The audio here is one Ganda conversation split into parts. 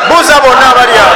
buuza bonna abali awo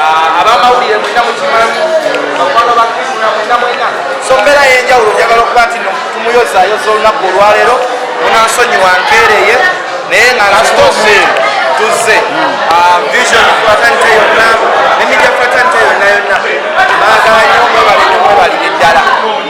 Ah, abamawulire mwena mukimanyi bakwano bakrisuna mwena mwena so mbeera yenjawulo njagala okuba nti tumuyozayoza olunaku olwaleero munansonyiwa nkeereye naye nga nasitose tuzze ah, vision fraternity yonna ne media fraternity yonna yonna baagala nyo mwebalire mwebalire ddala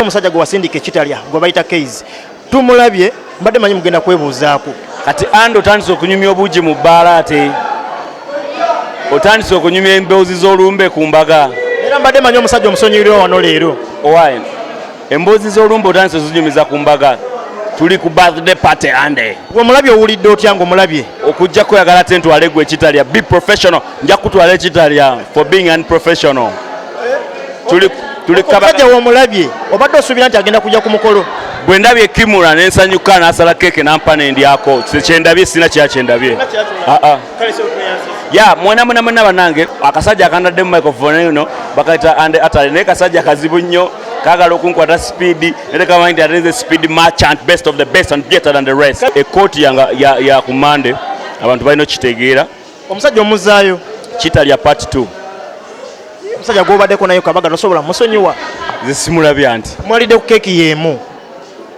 omusajja gwe wasindika ekitalya gwe bayita keizi Tumulabye mbadde manyi mugenda kwebuuzaako. Kati andi otandise okunyumya obuugi mu bbaala ate otandise okunyumya emboozi z'olumbe ku mbaga. Era mbadde manyi omusajja omusonyiyirwa wano leero. Owaye emboozi z'olumbe otandise ozinyumiza ku mbaga tuli ku birthday party ande. Gwe omulabye owulidde otya ng'omulabye? Okujja kweyagala ate ntwale gwe ekitalya be professional. nja kutwala ekitalya for being unprofessional tulikajja womulabye obadde osuubira nti agenda kujja ku mukolo bwe ndabye kimura nensanyuka nasala keeke nampa nendyako kyendabye sina kya kyendabye ah, ah. ya mwana mwana mwana banange akasajja akandaddemu microphone eno bakaita ande atale naye kasajja kazibu nnyo kagala okunkwata speed ate kamanyi nti atenze speed merchant best of the best and better than the rest ekkooti ya, ya, ya ku mande abantu balina okukitegeera Omusajja omuzaayo. Kitalya part 2. Omusajja gwobadeko nayo kabaga nosobola musonyiwa. Nze simulabye anti. Mwalidde ku keki yemu.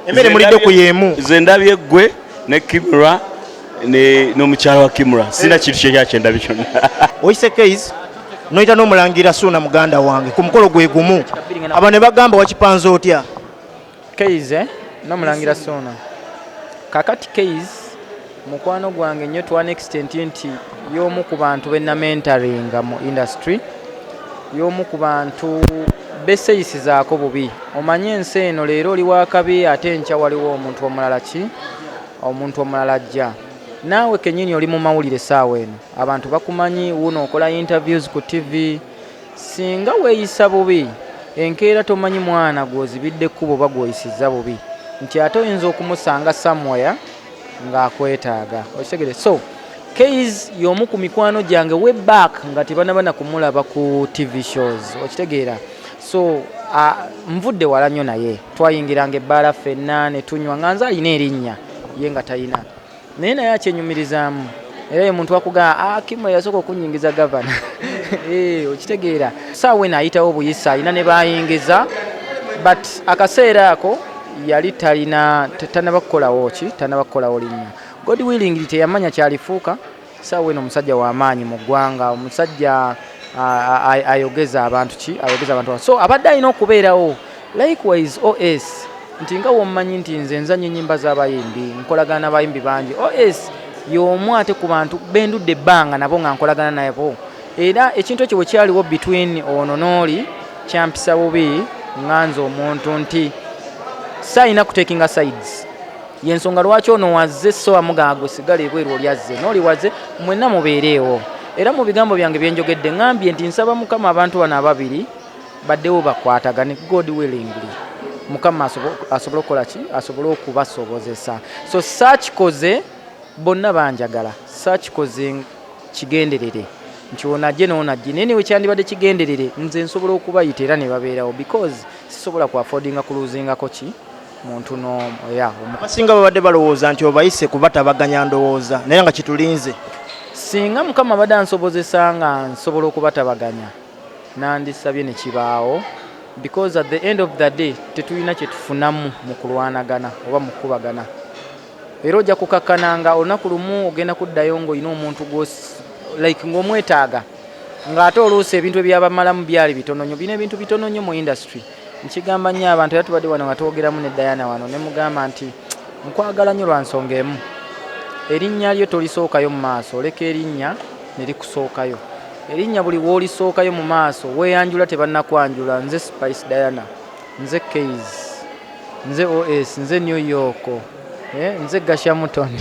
Emere mulidde ku yemu. Nze ndabye gwe ne Kimura ne nomukyala wa Kimura. Sina kintu kye yakye ndabye kyonna. Oyise Keiz noyita nomulangira Suuna muganda wange ku mukolo gwe gumu. Aba ne bagamba wakipanze otya? Keyz eh? nomulangira Ssuuna. Kakati Keyz mukwano gwange nnyo to an extent nti y'omu ku bantu be namentaringa mu industry, y'omu ku bantu beseyisizaako bubi. Omanyi ensi eno leero oli wakabi ate enkya waliwo omuntu omulala ki omuntu omulala ajja. Naawe kennyini oli mu mawulire essaawa eno, abantu bakumanyi, wuuno okola interviews ku ttivi. Singa weeyisa bubi, enkeera tomanyi mwana gw'ozibidde kkubo oba gw'oyisizza bubi nti ate oyinza okumusanga somewhere ng'akwetaaga. Okitegedde? So, Kayz y'omu ku mikwano gyange way back nga tebanaba na kumulaba ku TV shows. Okitegeera? So, ah, nvudde wala nnyo naye. Twayingiranga ebbaala ffenna ne tunywa nga nze alina erinnya ye nga talina. naye naye akyenyumirizaamu era ye muntu akugamba ah, akimu eyasooka okunyingiza gavana eh, okitegeera saawa eno ayitawo obuyisa alina ne bayingiza but akaseera ako yali talina tanaba kukolawo ki tanaba kukolawo linnya god willing teyamanya kyalifuuka saawa eno omusajja wamaanyi mu ggwanga omusajja ayogeza abantu ki ayogeza abantu so abadde alina okubeerawo Likewise OS nti nga wommanyi nti nze nzanyo enyimba z'abayimbi nkolagana n'abayimbi bangi OS y'omu ate ku bantu bendudde ebbanga nabo nga nkolagana nabo era ekintu ekyo bwe kyaliwo between ono n'oli kyampisa bubi nga nze omuntu nti saalina kutekinga sides yensonga lwaki ono wazze so amugaago sigala ebweru oli azze nooli wazze mwenna mubeereewo era mu bigambo byange byenjogedde ngambye nti nsaba mukama abantu bano ababiri Baddewo bakwatagane God willingly. Mukama asobole okukola ki? Asobole okubasobozesa. So saakikoze bonna banjagala. Saakikoze kigenderere nti ono ajje n'ono ajje naye newe kyandibadde kigenderere nze nsobola okubayita era ne babeerawo because sisobola ku affordinga kuluuzingako ki muntu n'omu ya abasinga babadde balowooza nti obayise kuba tabaganya ndowooza naye nga kitulinze singa mukama abadde ansobozesa nga nsobola okubatabaganya nandisabye nekibaawo because at the end of the day tetulina kyetufunamu mukulwanagana oba mukukubagana era ojja kukakkana nga olunaku lumu ogenda kuddayo nga olina omuntu gwosi like ngaomwetaaga ngaate oluusi ebintu ebyabamalamu byali bitononyo bina ebintu bitononyo mu industry nkigamba nnyo abantu era tubadde wano nga twogeramu ne dayana wano ne mugamba nti nkwagala nnyo lwa nsonga emu erinnya lyo tolisookayo mu maaso oleka erinnya ne likusookayo erinnya buli w'olisookayo mu maaso weeyanjula tebannakwanjula nze spice diana nze kays nze os nze new york eh, nze gashamutoni